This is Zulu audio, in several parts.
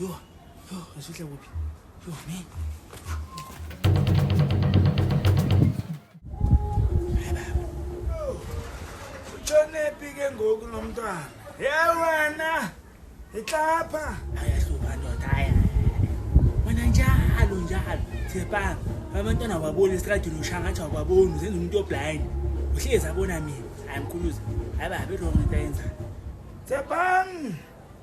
Yo, yo, usuhle kuphi? Yo, me. Ushonephi ke ngoku lo mntwana? Ye wena! Itlapha! Ayahluka ndoda, aya. Wena njalo njalo, Thepang, abantwana wababona esitradini ushangatha wababona, uzenza umuntu oblind. Uhlezi abona mina, ayamkhuluza. Hayi babe, lo muntu ayenzani? Thepang!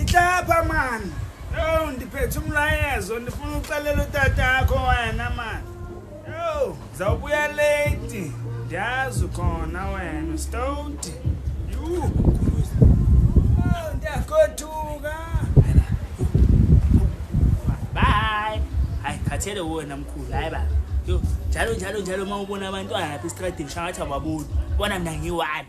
Itlapha man. Yo ndiphethe umlayezo ndifuna uxelela utatakho wena man. Yo zawubuya late. Ndiyazi khona wena stoti. Yuu. Ndiyakothuka. Bye. Hayi khathele wona mkhulu hayi baba. Yo njalo njalo njalo uma ubona abantwana lapha estradini shangathi ababoni. Bona mina ngiwani.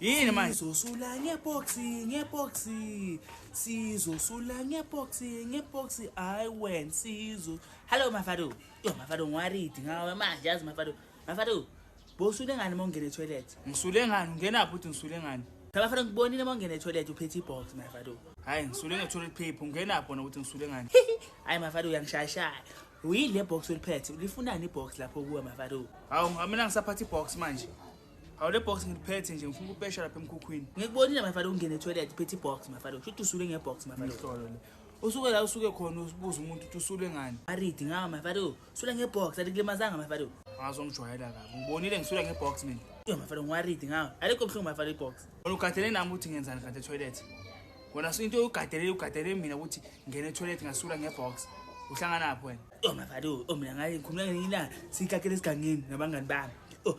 yini manje sizosula ngeboxi ngeboxi sizosula ngeboxi ngeboxi hayi wena sizo hallo mafado yo mafado ngiwaridi ngawe manje yazi mafado mafado bosule ngani uma ungena etoilet ngisule ngani ungenaphi uthi ngisule ngani abafana ngibonile uma ungena etoilet uphethe ibox mafado hhayi ngisule nge-toilet paper ungenaphi wona ukuthi ngisule ngani hhayi mafado uyangishayashaya uyini le box oliphethe ulifunani ibox lapho kuwe mafado hawu mina ngisaphatha ibox manje Hawu le box ngiliphethe nje ngifuna ukupesha lapha emkhukhwini. Ngikubonile my father ungene toilet phethe box my father. Shuthi usule nge box my father. Ihlolo le. Usuke la usuke khona ubuza umuntu ukuthi usule ngani. Aridi ngawa my father. Sule nge box alikulimazanga my father. Ngazo ngijwayela kabi. Ngibonile ngisule nge box mina. Yo my father ngiwaridi ngawa. Alikho mhlungu my father i box. Wena ugadele nami ukuthi ngenzani kade toilet. Wena so into ugadele ugadele mina ukuthi ngene toilet ngasula nge box. Uhlangana lapho wena. Yo my father, oh mina ngayi ngikhuluma ngenye ilanga sikakele esigangeni nabangani bami. Oh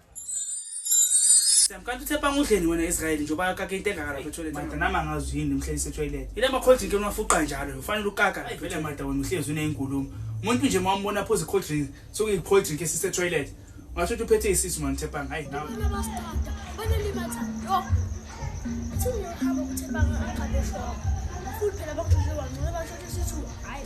Sam kanti uthepha ngudleni wena Israel njengoba akake into engaka lapha etoilet. Manje nami angazi yini mhlelise etoilet. Ile ma cold drink unafuqa njalo ufanele ukaka. Vele mada wena uhlezi unezinkulumo. Umuntu nje mawumbona phoze cold drink sokuyi cold drink esise toilet. Ngasho ukuthi uphethe isisu man thepha hayi nawe. Bana bastada. Bana limatha. Yo. Uthi uyahamba kuthepha ngaqabesho. Futhi phela bakudle wangcola basho ukuthi sithu. Hayi.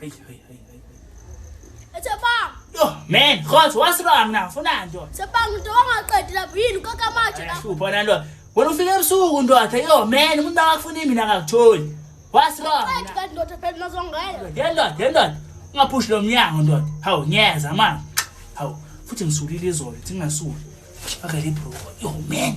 Hey, hey, hey, hey. Ethebang. Yo, man, khotho wasirang na, funa nto. Sebang into wangaqedi lapho yini kaka manje la. Ayashupha na nto. Wena ufike ebusuku ndoda, yo man, umuntu akafuni mina akakutholi. Wasirang Qedi na. kanti ndoda phela nazongela. Ndoda, ndoda. Ungaphushi lo mnyango ndoda. Hawu, ngiyeza manje. Hawu, futhi ngisulile izolo, thingasuki. Akale bro. Yo man,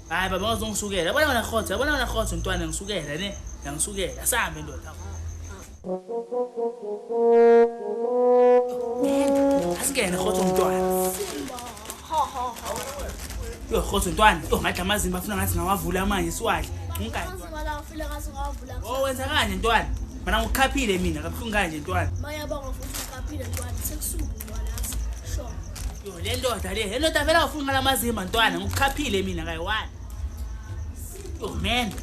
hayi baba waze ungisukela yabona wena khotho yabona wena khotho ntwana ngisukela ne yangisukela asambe ndoda asingene khotho mntwana yo khotho ntwana yo ngathi amazimba afuna ngathi ngawavula manje siwadle unkazi oh wenza kanje ntwana mana ngikhaphile mina kabuhlungu kanje ntwana mayabonga futhi ngikhaphile ntwana sekusuku le ndoda le ndoda vele awufuni ngalamazimba ntwana ngikukhaphile mina kayiwani oh man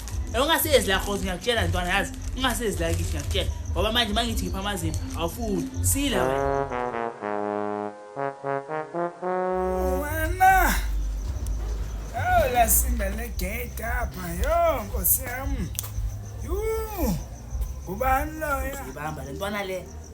ungasezi la khozi ngiyakutshela ntwana yazi ungasezi la kithi ngiyakutshela ngoba manje uma ngithi ngipha amazimba awufuni sila wena awulasinda le gate apha yo nkosi yam yuu ngubani loya ibamba le ntwana le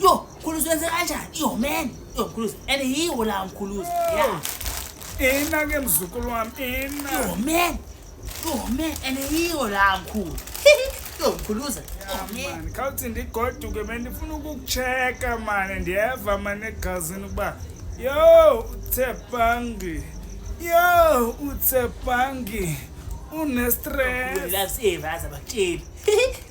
Yo, Mkhuluzi wenze kanjani? Yo man, yo Mkhuluzi. And yiwo la Mkhuluzi. Yeah. Ina ke mzukulu wami, ina. Yo man. Yo man, and yiwo la Mkhulu. Yo Mkhuluzi. Man, khawuthi ndigoduke bendifuna ukukucheka mane ndiyeva mane egazini ukuba yo uthe bangi yo uthe bangi unestress Last ever azabatsheli.